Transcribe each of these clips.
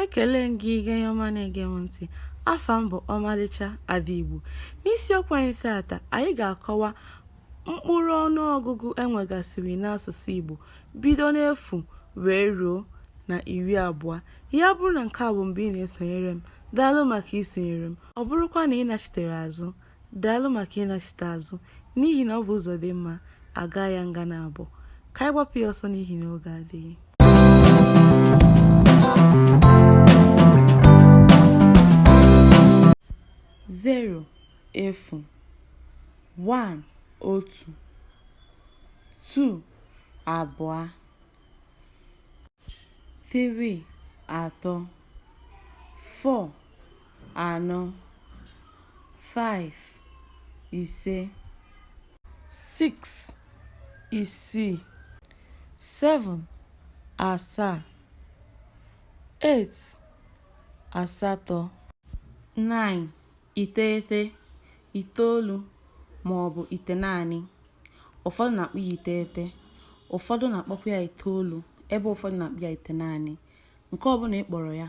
Ekele m gị onye ọma na-ege m ntị afa m bụ ọmalịcha ada Igbo n'isiokwu anyị tata anyị ga-akọwa mkpụrụ ọnụọgụgụ enwegasịrị n'asụsụ Igbo bido n'efu wee ruo na iri abụọ ya bụrụ na nke a bụ mbụ ị na-esonyere m daalụ maka isonyere m ọ bụrụkwa na ị nachitere azụ Daalụ maka ịnachite azụ, n'ihi na ọ bụ ụzọ dị mma, a gaa ya nga naabọ. Ka anyị gbapụ ya ọsọ n'ihi na oge adịghị. Zero, efu. One, otu. Two, abụọ. Three, atọ. Four, anọ, five, ise, six, isii, seven, asaa, eight, asatọ, nine, iteghete, itoolu ma ọ bụ itenaanị. Ụfọdụ na-akpọ ya iteghete, ụfọdụ na-akpọkwa ya itoolu, ebe ụfọdụ na-akpọ ya itenaanị. Nke ọbụla ị kpọrọ ya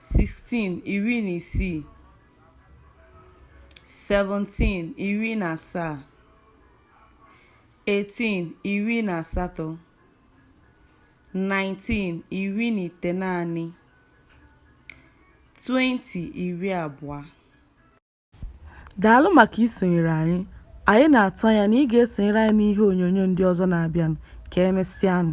16 iri na isii 17 iri na asaa 18 iri na asatọ 19 iri na itenaanị 20 iri abụọ daalụ maka isonyere anyị anyị na-atụ anya na ị ga-esonyere anyị n'ihe onyonyo ndị ọzọ na-abịanụ ka emesịanụ